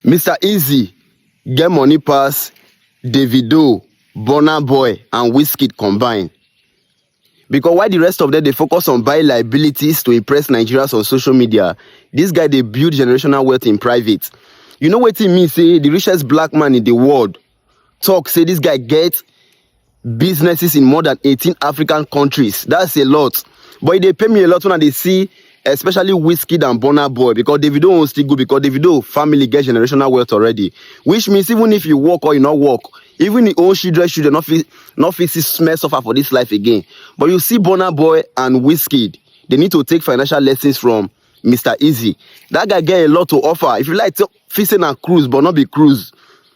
Mister Eazi get money pass Davido, Burna Boy and Wizkid combine because while the rest of them dey focus on buying liabilities to impress Nigerians on social media, this guy dey build generational wealth in private. You know wetin mean say the richest black man in the world talk say this guy get businesses in more than 18 African countries. That's a lot. But e dey pay me a lot when I dey see especially Wizkid and Burna Boy because Davido won't still go because Davido family get generational wealth already. Which means even if you work or you not work, even the old children children not fit not fit see smell suffer for this life again. But you see Burna Boy and Wizkid, they need to take financial lessons from Mr. Easy. That guy get a lot to offer. If you like, feel say na cruise but not be cruise.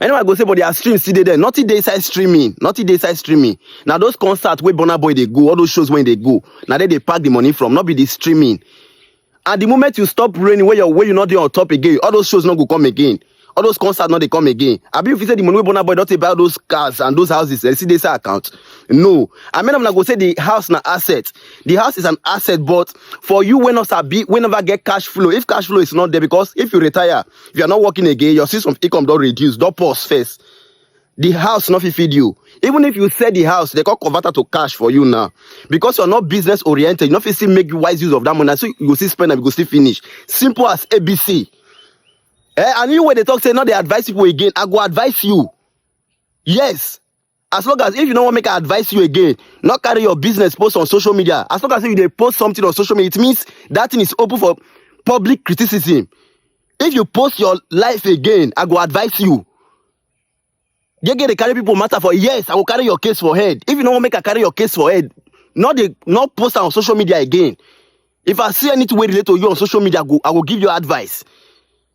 Anyway, I go say, but their stream still dey there. Nothing dey inside streaming. Nothing dey inside streaming. Now those concerts where Burna Boy they go, all those shows when they go, now they they pack the money from, not be the streaming. At the moment you stop raining, where you're where you not there on top again, all those shows not go come again. All those concerts not they come again. I believe if you say the money where Burna Boy don't take buy all those cars and those houses, they see this account. No. I mean I'm not gonna say the house na asset. The house is an asset, but for you when not be whenever get cash flow, if cash flow is not there, because if you retire, if you're not working again your source of income don't reduce don't pause first the house not fit feed you even if you sell the house they can convert it to cash for you now because you're not business oriented you not fit still make wise use of that money so you go still spend and you go still finish simple as abc eh and you when they talk say no they advise people again i go advise you yes As long as if you no wan make I advise you again, no carry your business post on social media. As long as if you dey post something on social media, it means that thing is open for public criticism. If you post your life again, I go advise you. Gege dey carry people matter for yes, I go carry your case for head. If you no wan make I carry your case for head, no dey no post am on social media again. If I see anything wey relate to you on social media, I go I go give you advice.